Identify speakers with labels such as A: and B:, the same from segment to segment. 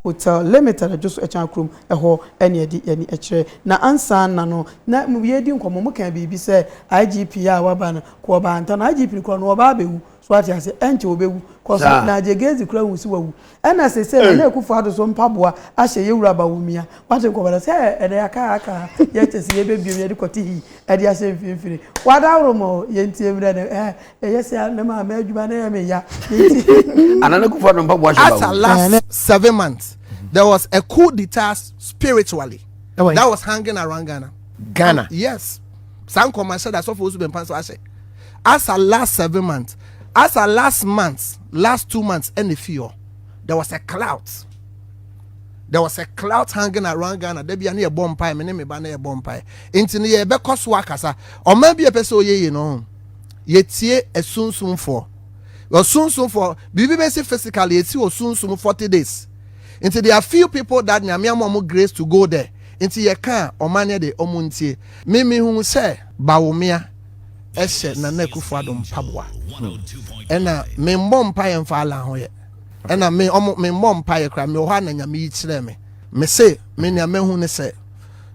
A: Hotel Le Metal dwo so Ɛkyan kurom hɔ ne ɛde yɛne kyerɛ. Na ansaana no na yɛredi nkɔmmɔ, mo kaa biribi sɛ IGP a waba no kɔ ɔbaa nta no IGP no kɔ no ɔbaa bɛwu so wate aseɛ ɛnkyɛ ɔbɛwu cos na Gyegezi koraa hu sɛ wawu ɛna sesei Nana Akufo Addo so mpaboa ahyɛ yɛwura Bawumia wate nkɔmmɔ no sɛ ɛnɛ yɛaka yɛaka yɛkyɛ sɛ yɛbɛbiem yɛde kɔte hi ɛde ahyɛ mfimfini wadaworo ma o yɛntie mmerɛ no ɛɛ Ɛyɛ sɛ me maame adwuma no yɛ me ya. Anana
B: Kufa no mpaboa hyɛ bawo. After last seven
C: months, there was a coup d'etat spiritually that was hanging around Ghana. Ghana. Yes. Saa nkɔmɔ ahyɛ da sɔfo osu bɛmpa nso ahyɛ. After last seven months, after last month, last two months, ɛna fi hɔ. There was a cloud. There was a cloud hanging around Ghana. Debi ani ɛbɔ mpae, me ne me ba na ɛbɔ mpae. Nti ne yɛ ɛbɛkɔ so akasa. Ɔman bi a ɛpɛ sɛ ɔyɛ yie no. yɛtie asunsumfoɔ ɔsunsumfoɔ biribi bɛsi physically yɛsi wɔ sunsum 40 days nti there are few people that nyame ama ɔmo grace to go there nti yɛka a ɔma ne de ɔmo ntie mimi hu sɛ bawomea ɛhyɛ Nana Akufo Addo mpaboa ɛna me mmɔ mpa yɛ mfa ala ho yɛ ɛna me ɔmo me mmɔ mpa yɛ kora me wɔ hɔ a na nyame yi kyerɛ me me se me nea mahu ne sɛ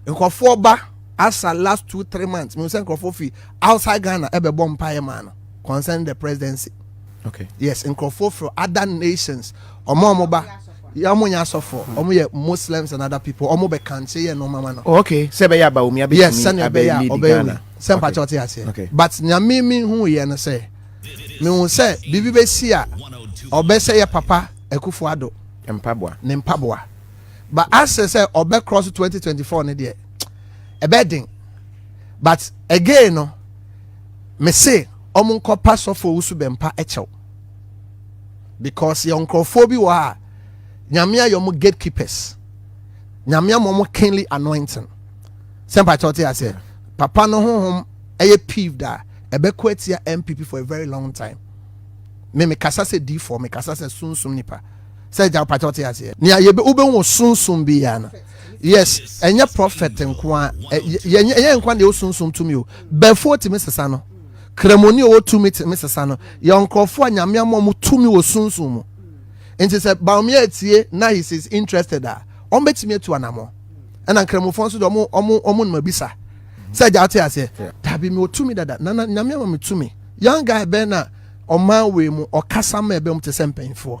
C: nkurɔfoɔ ba asa last two three months me sɛ nkurɔfoɔ fi outside ghana ɛbɛbɔ mpaeɛ maa no concerning the presidency okay. yes
D: nkurɔfoɔ frɛ
C: other nations ɔmo ɔmo ba ɔmo nyɛ asɔfoɔ ɔmo yɛ muslims and other people ɔmo bɛ kankye yɛ nneɛma ma no. Oh, okay sɛ ɛbɛyɛ aba omi
D: abɛtumi yes sɛnea ɛbɛyɛ a ɔbɛyɛ
C: wi sɛ mpakyɛ ɔte aseɛ
D: but nyame
C: mi hu yɛ no sɛ mi hu sɛ biribi bɛ si a ɔbɛ sɛ yɛ papa akufo ado mpaboa ne mpaboa but asɛ sɛ ɔbɛ cross twenty twenty four ne deɛ ɛbɛ den. but again no mese ɔmo nkɔpa sɔfo owusu bɛmpa kyɛw because yɛ nkurɔfoɔ bi wɔ a nyame ayɛ ɔmo gatekeepers nyame ama ɔmo kingly anointing sɛ mpakyɛw te aseɛ papa no honhom ɛyɛ peeved a ɛbɛkɔ atia mpp for a very long time me mekasa sɛ difoɔ mekasa sɛ sunsum nipa sɛ gya mpakyɛw te aseɛ nea yɛbɛ wobɛhu sunsum biara no yes ɛnyɛ prophet nko a yɛnyɛ nkwa deɛ ɔsunsum tumi o bɛfoɔ tumi sesa no kramoni ɔwɔ tumi tumi sesa no yɛ nkurɔfoɔ a nyame ama ɔmo tumi wɔ sunsum mu nti sɛ baomia atie na he is interested a ɔmo bɛtumi atu anamɔ ɛna nkramofoɔ nso deɛ ɔmo ɔmo ɔmo noma bisa sɛ agya ɔte aseɛ dabi mi ɔtumi dada nana nyame ama mi tumi young guy bɛn na ɔman wei mu ɔkasa ma ɛbɛn mu te sɛ mpanyinfoɔ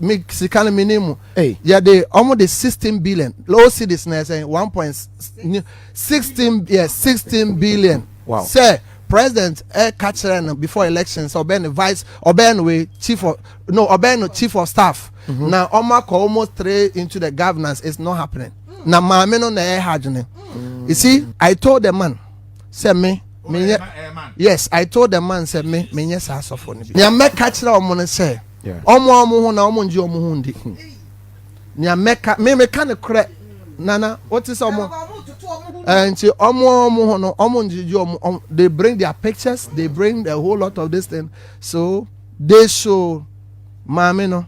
C: me sika no menim mu yɛde ɔmo de sixteen billion low cities na ɛsɛ one point sixteen yɛ sixteen billion sɛ
D: president
C: ɛka kyerɛ no before election sɛ ɔbɛn no vice ɔbɛn no wei chief of no ɔbɛn no chief of staff mhm. na ɔmo akɔ almost three into the governance is not happening na maame no na ɛha adwene you see i told the man sɛ me menyɛ yes i told the man sɛ me menyɛ saa asɔfo no bi nea mɛka kyerɛ ɔmo no sɛ. Wɔn a wɔn ho na wɔn ngye wɔn ho ndi. Nea mɛka me meka ne korɛ nana wote sɛ wɔn eh, nti wɔn a wɔn ho no wɔn ngye gye wɔn they bring their pictures they bring a whole lot of this thing so they should maame no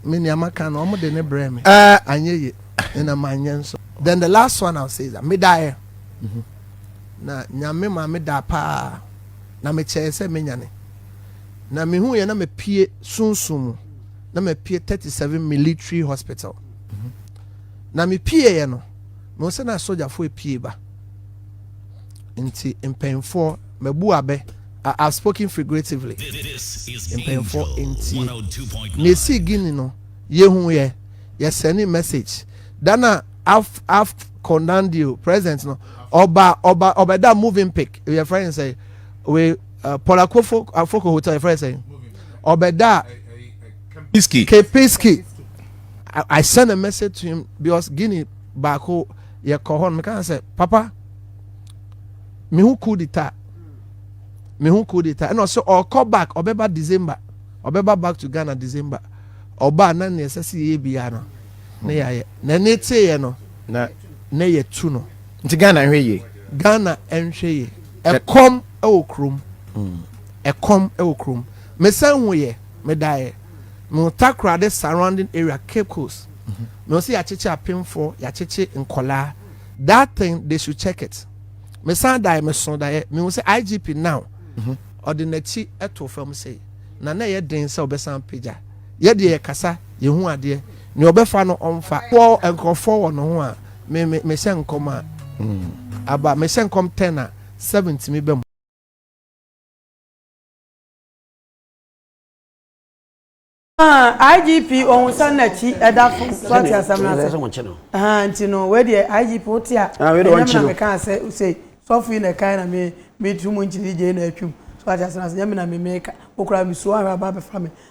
C: me nea maka no wɔn de ne brɛ me eh. anyɛ yie ɛna ma nyɛ nso then the last one I will say is that me daeɛ mm-hmm. na nyame ma me da paa. Na mekyɛɛ sɛ mɛnyane, na mehuiɛ na mapue sunsum mu, na mapue 37 Military Hospital. Na mepueeɛ no, mehu sɛ na asogyafoɔ apue ba. Nti mpanyinfoɔ, mabu abɛ, I have spoken figuratively. Mpanyinfoɔ ntie. Na ɛsii Guinea no, yɛhuiɛ, yɛsɛnee message. Da no a. af af konandio president no ɔba ɔba ɔbɛda moving pic yɛ fɛn sɛ we uh, pɔlakofo afoko hotel yɛ fɛn sɛ ɔbɛda kepiski kepiski I, I send a message to him because guinea baako yɛ kɔ hɔ no kan sɛ papa me ho cool de ta me ho cool de ta ɛna ɔsɛ ɔkɔ back ɔbɛba december ɔbɛba back to ghana december ɔba na nea ɛsɛ sɛ yɛyɛ biara no na yɛayɛ na ne teeɛ no na na yɛtu no nti Ghana nhwɛ yie
D: Ghana nhwɛ
C: yie ɛkɔm ɛwɔ kurom mm. ɛkɔm ɛwɔ kurom mesan hu yɛ medaeɛ no takorade surrounding area cape coast mhm. na ɔsi yɛakyekye apemfoɔ yɛakyekye nkɔlaa that thing they should check it mesan daeɛ meso daeɛ mehu sɛ igp now mhm. ɔde n'akyi ɛto fam sei na na ɛyɛ den sɛ ɔbɛsan pagya Yɛ deɛ yɛkasa, yɛhu adeɛ. Nea ɔbɛfa no ɔmfa. Wɔ nkurɔfoɔ wɔ ne ho a, me me mehyɛ nkɔm a, aba. Mehyɛ nkɔm ten a, seven tumi ba mu.
A: Ahaa IGP ohun sɛ nakyi ɛda fam so ate asɛm no ase ahaa nti no wei deɛ IGP wote a ɛnyɛ me na mekaa sɛ sei sɔfo yi na ɛkae na me metu mu nkyene gyei na atwam so ate asɛm no ase ɛnyɛ me na me meka wo koraa me suo ahwɛ aba abɛfa me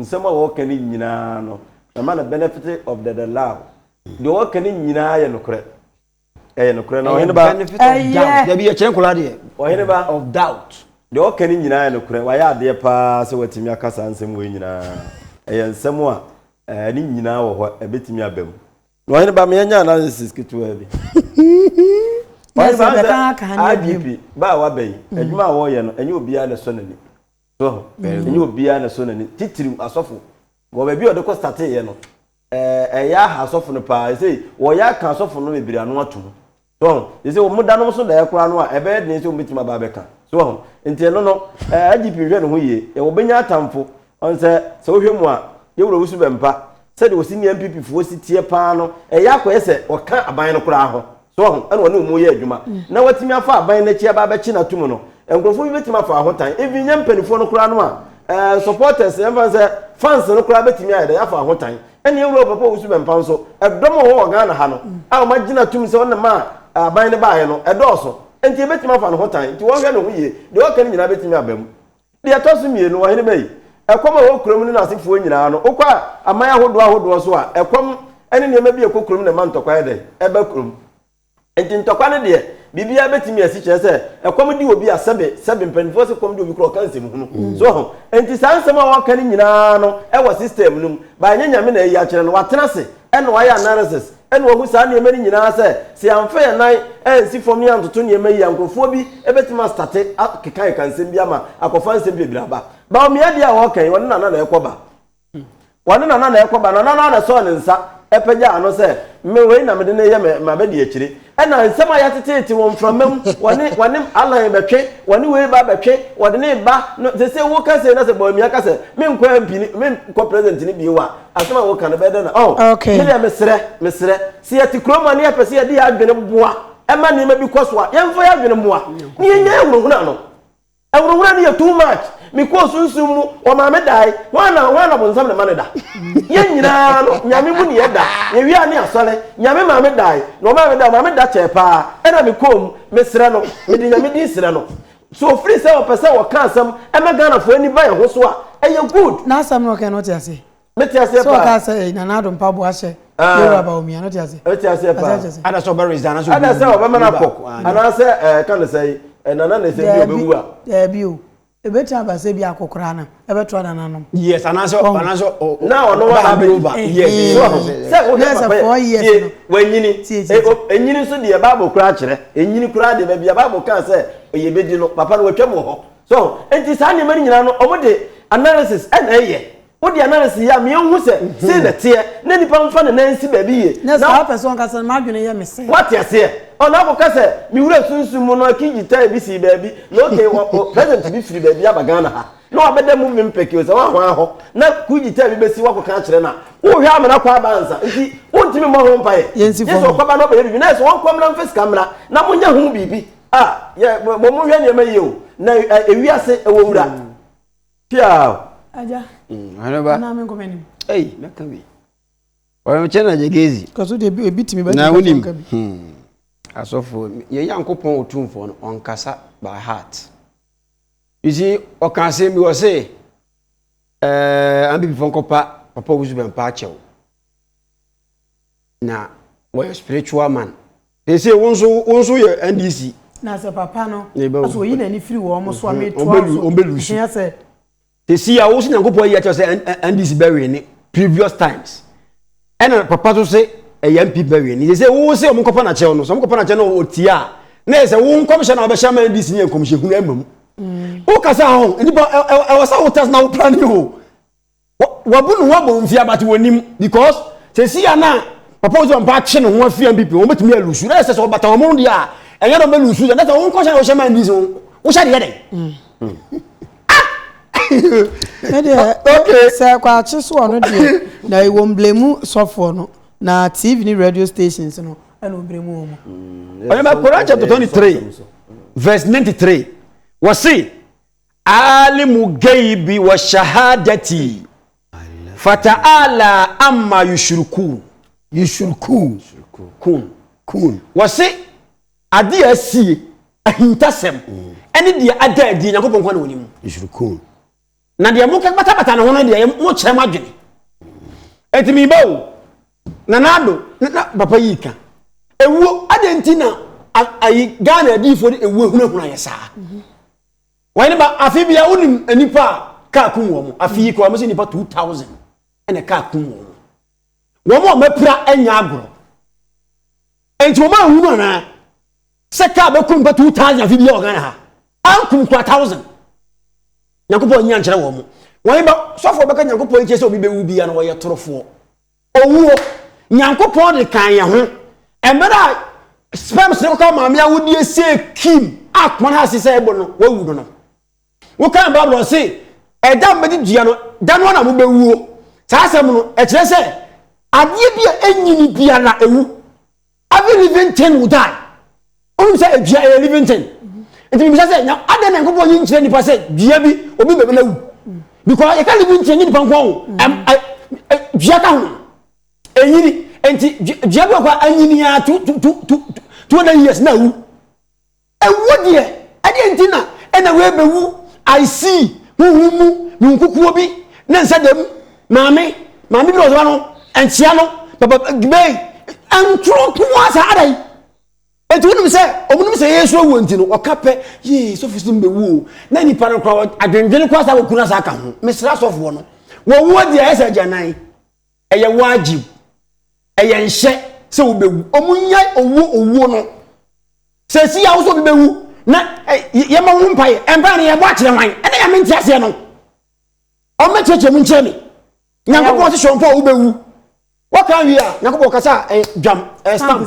A: Nsɛm a wɔka no nyinaa no, mɛma no benefit of the the lou. Deɛ wɔka no nyinaa yɛ nokorɛ. Ɛyɛ nokorɛ na ɔhene ba. Benefit of doubt. Dabi yɛ kyerɛ nkɔla deɛ. Ɔhene ba. Of doubt. Deɛ wɔka no nyinaa yɛ nokorɛ. Wayɛ adeɛ paa sɛ watumi aka saa nsɛm wei nyinaa. Ɛyɛ nsɛm a ɛɛ ne nyinaa wɔ hɔ ɛbɛtumi aba mu. Na ɔhene ba me anya analysis ketewaa bi. Ɔhene ba sɛ IGP ba a waba yi, adwuma a wɔreyɛ no ɛnyɛ obiara na ɛsɔ n'ani. So ho. Ɛnyɛ obiara na ɛsɔ n'ani, titiriw asɔfo. Wɔ baabi a ɔde kɔ startee yɛ no, ɛɛ, ɛyɛ aha asɔfo no paa. Ɛsei, wɔyɛ aka asɔfo no bebree ano atom. So ho. Ɛsei, wɔn da nom so daeɛ koraa no a, ɛbɛyɛ den sɛ wɔbɛtumi aba abɛka. So ho. Nti ɛno no, ɛɛ, IGP nhwɛ ne ho yie. Yɛ wɔbɛnya atamfo. Ɔn sɛ, sɛ wohwɛ mu a, Yawura Owusu Bɛmpa, sɛdeɛ ɔsi ne NPP foɔ si teɛ paa no, ɛyɛ akɔyɛ sɛ ɔka aban no koraa ho. So wahu? Ɛna ɔne wɔn yɛ adwuma na watumi afa aban no akyi aba abɛkye no atum no. Nkurɔfoɔ bi bɛtumi afa ho tan, even nyɛ mpanimfoɔ no koraa no a, ɛɛ supporters, yɛmfa no sɛ fans no koraa bɛtumi ayɛ dɛ, afa ho tan. Ɛna yɛn wura Owuo Papa Owusu Bɛmpa nso, ɛdɔm a wɔwɔ wɔ Ghana ha no a wɔagye no atum sɛ ɔno na ɛmaa aban no baeɛ no, ɛdɔɔso. Enti yɛbɛtumi afa ne ho tan. Enti wɔnhwɛ ne ho yie. Deɛ ɔreka no nyinaa bɛtumi aba mu. Deɛ ɛtɔ so mmienu, ɔhene bɛyi ɛkɔm a ɛwɔ kuro mu ne n'asefoɔ nyinaa ano. Wokɔ a aman ahodoɔ ahodoɔ so a, ɛkɔm ne nneɛma bi a ɛkɔ kurom na ɛma ntɔkwa yɛ dɛn? Ɛba kurom. Enti ntɔkwa no deɛ, biribiara bɛtumi asi, kyerɛ sɛ, ɛkɔm de obi a, sɛbe, sɛbe, mpanimfoɔ se kɔm de obi koraa a, ɔka nsɛmhunu. So ho? Enti saa nsɛm a wɔka no nyinaa no, ɛwɔ system no mu, but ɛnyɛ Nyame na ayi akyerɛ no. Watena ase, Ɛnna wɔayɛ analysis na wɔahu saa nneɛma no nyinaa sɛ, sɛ yɛamfa yɛn nan ansi fam na yɛantoto nneɛma yi a, nkurɔfoɔ bi bɛtumi astate akekakeka nsɛm bi ama akɔfa nsɛm bebree aba. Baomia deɛ a wɔreka yi, ɔne Nana na ɛrekɔba. Ɔne Nana na ɛrekɔba. Nana no ara na ɛsɔɔ ne nsa pagyaa ano sɛ, Me wei na mede no reyɛ m'abadiakyire. ɛna nsɛm a yɛateteete wɔ mframa mu wɔne wɔne alan bɛtwe wɔne wei ba bɛtwe wɔde ne ba no sɛ sɛ woka sɛ na sɛ bɔamia ka sɛ menkɔ mp ne menkɔ president ne bio a asɛm a woka no bɛyɛ dɛ na oh okay. medeɛ mesrɛ mesrɛ sɛ yɛte kurom a ne yɛpɛ sɛ yɛde yɛ adwene boa ɛma nneɛma bi kɔ so a yɛmfa yɛ adwene mmoa ne yɛnya yɛhunahuna no Awurawura no yɛ too much me kɔɔ sunsum mu wɔ maame dae hwan na hwan na bonsam ne ma no da yɛn nyinaa no nyame mu ne yɛ da yɛ wia ne asɔre nyame maame dae na ɔmaa me da maame da kyɛɛ paa ɛna me kɔɔ mu me serɛ no me de nyame din serɛ no so ofiri sɛ ɔpɛ sɛ ɔka asɛm ɛma Ghana foɔ ani ba yɛn ho so a ɛyɛ good. N'asɛm no ɔkae no wote aseɛ? mete aseɛ paa sɛ ɔkaa sɛ ɛyi nana ado mpaboa ahyɛ yɛwura ba omia no te aseɛ mete aseɛ paa ada sɛ ɔbɛ resign anaasɛ ada sɛ ɔbɛma no akɔ anaasɛ ɛka ne sɛ nana na ɛsɛ bi ɔbɛwu a daabi o ɛbɛtumi aba sɛ bi akɔkoraa no ɛbɛtoa nana nom yes anaasɛ anaasɛ na ɔno wa na abɛyi yes sɛ wohɛ papa yɛ wanyini ɛnyini nso deɛ bible koraa kyerɛ ɛnyini koraa deɛ baabi a bible kaa sɛ ɔyɛ bɛdi no papa no watwam wɔ hɔ so enti saa nneɛma no nyinaa no ɔmo de analysis ɛna ɛyɛ Wode analysis yɛ a me nhu sɛ sei na ɛteɛ na nipa nfa ne nan nsi baabi yie. Nyɛ saa wopɛ sɛ ɔnka sɛ m'adwene yɛ me sɛ. Wate aseɛ? Ɔna akɔka sɛ me wura sunsum mu no aki gyitae bi sii baabi na okay wɔ o president bi firi baabi aba Ghana ha na wabɛda movie mpɛke o sɛ woahwaa hɔ na kuu gyitae bi bɛsi woakɔka akyerɛ no a wohwɛ amena kɔ aba ansa nti wontumi mmɔ ho mpaeɛ Yɛnsi gye fam. sɛ ɔkɔba na ɔbɛyɛ biribi na yɛ sɛ wɔnkɔ mmra mfa sika mmra na monyɛ ho biribi a yɛ mo monhwɛ nneɛma yie o na ɛ ewiase ɛwɔ wura. Piaw! Agya. Mm, ɔhene ba. Anaa menkɔ m'anim. Ei, mɛka bi. Ɔyɛmkyɛ na agya Gezi. Kaso deɛ ebi ebi tumi bɛka na wonim. Hmm. Asɔfo,
B: yɛn Nyankopɔn Otumfoɔ no, ɔnkasa by heart. You see, ɔka asɛm bi wɔ se, ɛɛ, eh, ambibifoɔ nkɔpa papa wusu bɛmpa akyɛw. na wɔyɛ spiritual man they say wo nso wo nso yɛ ndc. na sɛ papa
A: no ɔsɛ oyi n'ani firi wɔn so a mi to aso ɛhia sɛ. tesi a
B: wosi nyankopɔn yi akyerɛ sɛ ndc bɛ win ne previous times ɛna papa so se ɛyɛ mp bɛ win ne sɛ sɛ wo se wɔn kɔpa na kyɛw no sɛ wɔn kɔpa na kyɛw no ɔtie a na yɛ sɛ wo nkɔmhyɛ na ɔbɛhyɛ ama ndc ne nkɔmhyɛ hunu ɛma mu wokasa ho nipa ɛwɔ sɛ wotas na wo plane ho Wabu ne ho abomfia but wɔnim because sɛsi a na papa osi wɔn pa akye ne ho afi NPP wɔn bɛtumi alusu na ɛsɛ sɛ ɔbata wɔn ho deɛ a ɛnyɛ na ɔbɛlusu sɛ dɛsɛ wɔn kɔhyɛ na wɔhyɛ man bi so wohyɛ deɛ dɛn. ɛdeɛ
A: sɛ kwakye so ɔno deɛ na ɛwɔ mblemu sɔfoɔ no na tv ne radio stations no ɛna ɔbrɛ mu ɔmu. ɔyɛ mɛ Koran
B: chapter twenty three verse ninety three wɔsi. Aalimu gaibi wa shahadati fata'ala amma yushrikuun. Yushrikuun. Kuun. Kuun. Wɔse adeɛ a asie, ahintasɛm, ɛne deɛ ada adie Nyankopɔn kwa na wɔnim. Yushrikuun. Na deɛ mo batabata ne ho no deɛ mo kyerɛ mo adwene. Eti mi ba o, nana ado, na papa yi ka. Ewuo, adɛn nti na ayi Ghana adiifoɔ de ewuo ehunahuna yɛ saa? Wɔn ba afi bia wonim nipa a kaa kum wɔn afi yi koraa wɔn sɛ nipa two thousand ɛna kaa kum wɔn wɔn a wɔapira anya agorɔ nti wɔn a nhunu anaa sɛ kaa bɛkum nipa two thousand afi bia wɔ Ghana ha ankum kura thousand nyankopɔn nyi ankyerɛ wɔn wɔn ba sɔfo bɛka nyankopɔn nkyɛn sɛ obi bɛwu bia na wɔyɛ torofoɔ Owuo, Nyankopɔn de kan yɛn ho. Mmerɛ a sperms no kɔka maame awodeɛ sie kim a koma no ase sɛ ɛbɔ no, wawu no no. Wokan Bible no se, ɛda a mobɛdi dua no, da no ara na mobɛwuo. Saa asɛm no, ɛkyerɛ sɛ, adeɛ bi a ɛnyini biara, ɛwu. Every living thing will die. Wonim sɛ dua ɛyɛ living thing. Nti mebisa sɛ nya adɛn na Nyankopɔn yi nkyerɛ nipa sɛ dua bi obi bɛbɛ na wu. Because yɛka living thing nye nipa nko o. Ɛm ɛ ɛ dua ka ho. Ɛnyini. Nti dua bi wɔ hɔ a anyini a two two two two two hundred years na awu. Ɛwuo deɛ ɛdeɛn nti na ɛna wei bɛwu I see honhom mu me nkukuo bi ne nsa dam maame maame bi na ɔsoma no nkyea no papa gbɛɛ ntoro nkoa saa adɛn nti wonim sɛ ɔmo nim sɛ yɛsoro wuo nti no ɔka pɛ yee sɔfo sim bɛwu o na nipa no kora adwendwene kora saa wɔkuna saa ka ho mesra sɔfoɔ no wɔwuo deɛ ɛsɛ agyanan ɛyɛ wajib ɛyɛ nhyɛ sɛ wobɛwu ɔmo nya owuo owuo no sɛ si yɛ ahosuo bi bɛwu na yɛma ho mpaeɛ mpaeɛ no yɛbɔ akyerɛ hwan ɛna yɛme nte aseɛ no ɔmo kyerɛkyerɛ mu nkyerɛ me nyankopɔn se hyɛ ɔmpa a wobɛwu wɔka wie a nyankopɔn kasa dwam stamp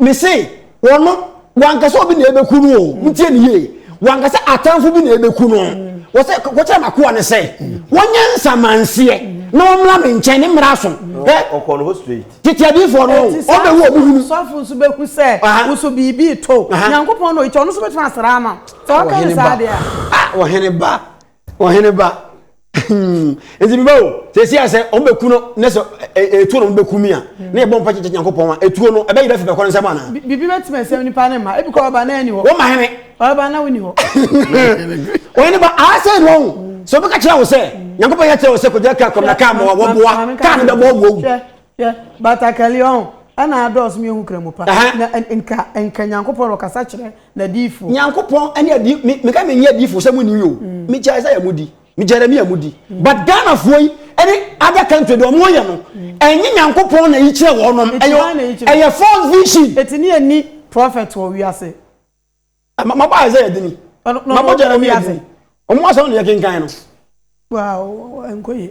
B: Me se wɔno wanka sɛ obi na ɛbɛku no o ntie ne yie wanka sɛ atamfo bi na ɛbɛku no wɔsɛ kɔkyerɛ makoa no sɛ wɔnyɛ nsamanseɛ na wɔmmra me nkyɛn ne mmra so
D: tete adiifoɔ no
B: ɔbɛwu ɔmo hunu sɔfo nso bɛhu sɛ
A: wo so biribi to nyankopɔn na ɔyitɔ ɔno nso bɛtumi asra ama sɛ ɔka ne saa deɛ a ɔhene ba
B: Ɔhene ba, nti mi ba o, sɛ esi asɛ ɔmo bɛ ku no, ne sɛ etuo na ɔmo bɛ ku mi a, ne yɛ bɔ mpa kyekyɛ Nyankopɔn a, etuo no ɛbɛ yera afi bɛkɔ no nsam anaa? Bibi bɛ tumi asɛm nipa
A: ne mma, ebi kɔ ɔba na ɛni hɔ. Wɔn ma hene. Ɔba
B: na woni hɔ. Ɔhene ba, aa sɛ ɛni hɔ, sɛ ɔbɛ ka kyerɛ wo sɛ, Nyankopɔn yɛ kyerɛ wo sɛ kɔgyina kaa kɔm na kaa ma wɔ boa, kaa no bɛ bɔ ɔmo awu. Hwɛ, hwɛ, batakali
A: ɔho, ɛna adɔɔso mi ehu kramu pa, na nka, nka Nyankopɔn na ɔkasa kyerɛ. N'adiyifo. Nyankopɔn ne adi
B: me me ka me nyɛ adiyifo sɛ mo nni o me kyɛ Isaiah mo di me Jeremiah mo di but Ghana foɔ yi ɛne other country deɛ ɔmo yɛ no ɛnyɛ Nyankopɔn na yi kyerɛ wɔn nom ɛyɛ ɛyɛ false vision. Eti ne yɛnni
A: prophet wɔ wiase. Ma ma
B: bɔ Isaiah dini ma bɔ Jeremiah dini ɔmo
A: asɛm
B: na yɛ kenkan no. Wow ɛnkɔ yie.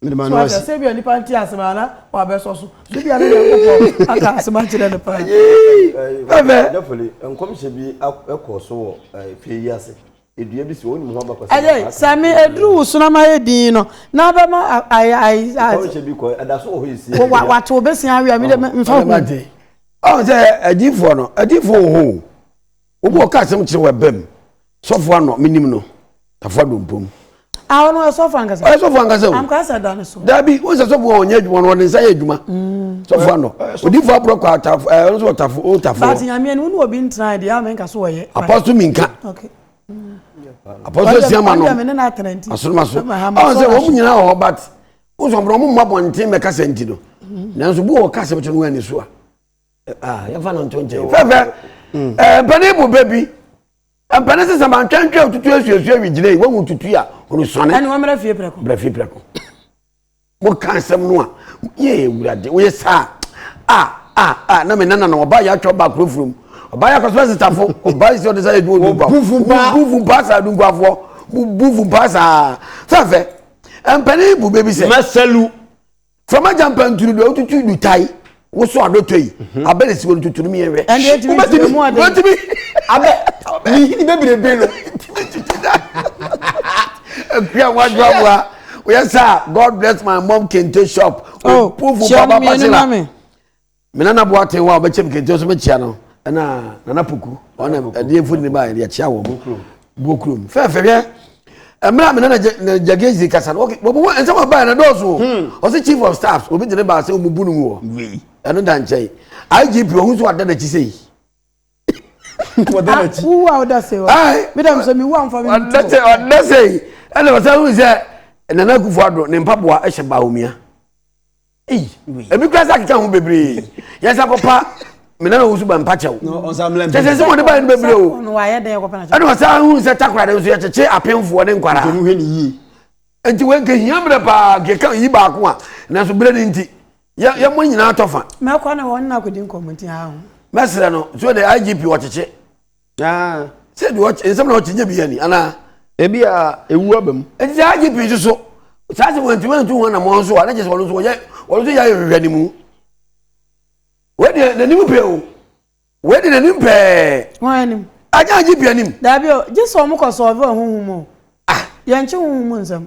A: Mede m'ano asi. So ate sɛ ebia nnipa nte ase ma na wɔabɛsɔ so? So ebia na Nyankopɔn aka asɛm akyerɛ no paa? Ɛbɛ.
E: Dɛfoli, nkɔmhyɛ bi kɔɔ so wɔ fie yi ase. Dua bi si hɔ, wonim ho abakɔsɛm? Ɛyɛ, sɛ me aduru
A: wo sono ama ayɛ dinn no, na abɛma ayɛ ayɛ. Nkɔmhyɛ bi kɔɔ, ɛda
E: so wɔ hɔ yi sie. Wa wate wo bɛsia awi
A: a, me de mfa ho. Ɔn sɛ
B: adiifoɔ no, adiifoɔ wɔ hɔ o. obi ɔka asɛm kyerɛ wɔ ɛbɛm sɔfo anɔ menim no tafo adompom awo no ɛsɔfo
A: ankasa ɔyɛ sɔfo ankasa o ankasa sɛ da ne so dabi o sɛ sɔfo wɔn
B: nyɛ adwuma no wɔde nsa yɛ adwuma mm. sɔfo anɔ odifo aburɔ kɔ atafo ɛɛ ɔno nso ɔtafo o tafo baasi nyameɛ no wone obi
A: ntina deɛ ama nka so wɔyɛ apɔso mi nka
B: apɔso esi ama no asoromaso
A: ɔn sɛ
B: wɔn nyinaa wɔ hɔ bat o sɔn bɔn wɔn mu abɔnten mɛka sɛ nti no mm. nanso bu wɔ kasa bi to no wɔn ani so a. Ah, yɛmfa no nto nkyɛn. fɛfɛ mm. eh, mpanin bu bɛ bi mpanin sisan ma ntwɛntwɛ tutu esuesue wi gyina yi wɔn mu tutu a olùsɔni. ɛni wɔn mìíràn fie pɛrɛko. mìíràn fie pɛrɛko mo kan sɛm no a yɛ ewurade woyɛ saa a a a na mi nana na ɔba yɛ atwa ɔba akoro furu mu ɔba yɛ akɔsɔ sitafo ɔba yɛ si ɔde sa yɛ du odu ba bufu pa bufu pa sa du nkuafoɔ bufu pa sa fɛfɛ mpanin bu bɛ bi sɛ. mɛsɛlu. fama gyampa nturu do ɔtutu du tai woso adɔtɔ yi mhm. abɛ na siwɔ no tuturu mi yɛhwɛ wobɛtumi wobɛtumi abɛ mihini bebrebe no akua wadwo aboa oyɛ sɛ a god bless my mom kente shop oh, pufu papa
A: pasela Me nana
B: Boateng wa ɔbɛkyɛm kente nso mekyia no ɛna nana Poku ɔna ɛdeɛ mfoni ne baayɛ deɛ kyia wɔn buo kurom fɛɛfɛ hwɛ mmerɛ a me nana Jagage de kasa no wɔbu wɔn nsɛm a baayɛ na dɔɔso ɔsɛ chief of staffs obi gyina baasɛ wɔn bu no mu wɔ wei ɛno da nkyɛn IGP wɔn nso ada n'akyi sɛ yi wɔda
A: n'akyi wuwu a wɔda sɛ wɔ meda mi sɛ mi wu a nfa mi mu tu wɔda sɛ yi
B: ɛna wɔsɛ wɔn sɛ nana Akufo-Addo ne mpaboa ɛhyɛ baawomia. ebi kura sɛ akeka ho bebree yɛn nsa kɔpa mena na ɔwusu ba mpakyɛw kyɛsɛ sɛ wɔde baɛ no bebree o ɛne ɔsan hu sɛ takora de nso yɛkyekye apemfoɔ ne nkwara nti wɔnka hia mmerɛ paa keka yi baako a nanso berɛ no nti yɛmmɔ nyinaa tɔ fa
A: mɛsrɛ no so
B: de igp ɔkyekye sɛ deɛ nsɛm na ɔte nyɛ bi yɛ ni anaa ebi a ewu aba mu ɛti sɛ agye pii nso so saa sɛ wɔntumi antu wɔn na wɔn nso a ne kyɛ sɛ wɔn nso wɔyɛ wɔn nso yɛ ayɛ hwehwɛ ne mu wei deɛ n'anim pɛ o wei deɛ n'anim pɛɛ wɔn anim agye agye pii anim daabi o gye sɛ wɔn kɔ sɔɔve wɔn ho ho mu o ah yɛn kye ho ho mu nsɛm.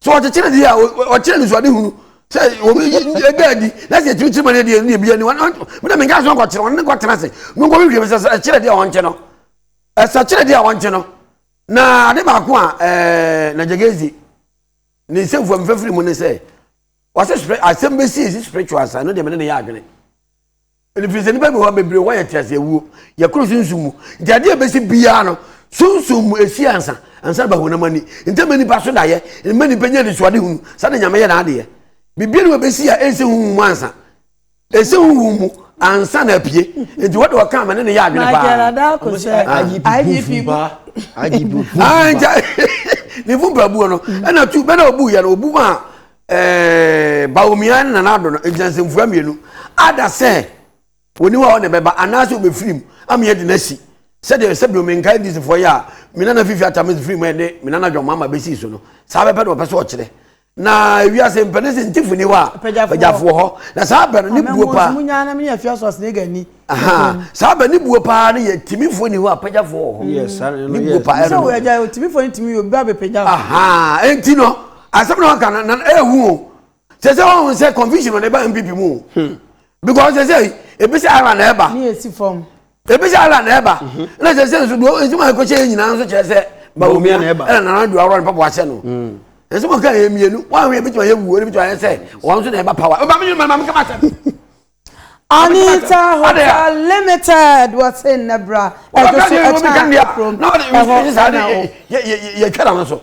E: so ɔkyekyere deɛ a ɔkyerɛ ne suade hunu sɛ ɛda adi na sɛ ɛkyerɛkyerɛ ma no deɛ ne bia ni mena menka so nkɔkyerɛ ɔno ne nkɔtena ase no nkɔ hwehwɛ sɛ ɛkyerɛ deɛ ɔnkye no ɛsɛ kyerɛ deɛ ɔnkye no na ade baako a ɛɛ na gyegezi ne nsɛmfua mfafiri mu ne sɛ wɔsɛ asɛm bɛsi ɛsi spiritual side no deɛ mene ne yɛ adwene Ɛfiri sɛ nnipa bi hɔ a bebree hɔ yɛ teaseɛ wuo, yɛkoro sunsum mu. Nti adeɛ a ɛbɛsi biara no, sunsum mu ɛsi ansa, ansa ba honam ani. Nti ɛma nnipa so daeɛ, ɛma nnipa nya anisoade hunu saa na Nyame yɛ n'adeɛ. Biribiara ni hɔ a ɛbɛsi a ɛnsi honhom mu ansa. Ɛsi honhom mu ansa na apue. Nti wɔde ɔka a mene no yɛ adwene paa. Magyara da ko sɛ IGP ba. IGP
A: bu. Ah, nti
B: ne fumpa buo no, ɛna tu, bɛna ɔbu yɛ no, ɔbu maa Ɛɛ Bawumia ne Nana Addo no, egyina nsɛmfua mmienu. Ada sɛ wɔn ni hɔ a ɔne bɛba anaasɛ ɔbɛfiri mu ama yɛadi no asi. Sɛdeɛ sɛ bio menkae ndc foɔ yi a me nana fifi atame firi mu ɛne me nana John Mahama bɛsii so no, saa bɛpɛ na ɔpɛ sɛ ɔkyerɛ. Na ewiase mpɛ ne sɛ ntifo ni hɔ a pagyafoɔ hɔ. Na saa bɛ no ne buo paa. Amemmoa mu nyaa na mene afia so
A: asenega ni. Saa
B: bɛ ne buo paa ne yɛ timifoɔ ni hɔ a pagyafoɔ wɔ hɔ. Ne buo paa
E: ɛno. Sɛ
B: wɔ agya yɛ timifoɔ ne
A: timi yɛ obi ba bɛpagya. Enti no
B: asɛm na waka no na ɛhu o sɛ sɛ wɔn sɛ confusion ɔde ba npp mu o hmm. because sɛ sɛ ebi sɛ ara na ɛba ne esi fam
A: ebi sɛ ara na
B: ɛba mhm. na sɛ sɛ nso do nsoma ekokyɛ yɛ nyinaa nso kyerɛ sɛ bawumia na ɛba ɛna nana do awura ne papa wahyɛ no hmm. nsoma kan yɛ mmienu wɔn ahwɛ ebi tuma yɛ wuo ebi tuma yɛ sɛ wɔn nso na ɛba power ɔba mi ni mɛ maa mi kama sɛ. Anita
A: Hotel Limited wɔse nnɛ bra ɛdo so ɛkyɛn
E: ɛkurom ɛhɔ ɛna wɔ. yɛtwa na no so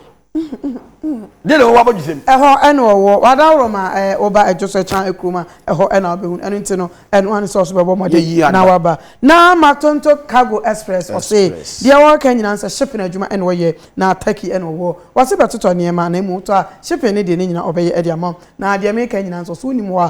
E: deɛ na wɔwɔ abɔdwe sɛm. ɛhɔ ɛna wɔwɔ wadaworo
A: ma ɛɛ wɔba ɛdo so ɛkyɛn ɛkurom a ɛhɔ ɛna wɔbɛhu ɛno nti no ɛno ano sɛ ɔso bɛbɔ mɔden na waba na matonto cargo express ɔse deɛ wɔreka nyinaa sɛ shipping adwuma ɛna wɔyɛ na turkey ɛna wɔwɔ wɔse bɛtotɔ nneɛma na mmom tɔ a shipping ne deɛ ne nyinaa ɔbɛyɛ ɛde ama na deɛ meka nyinaa nso so wonim hɔ a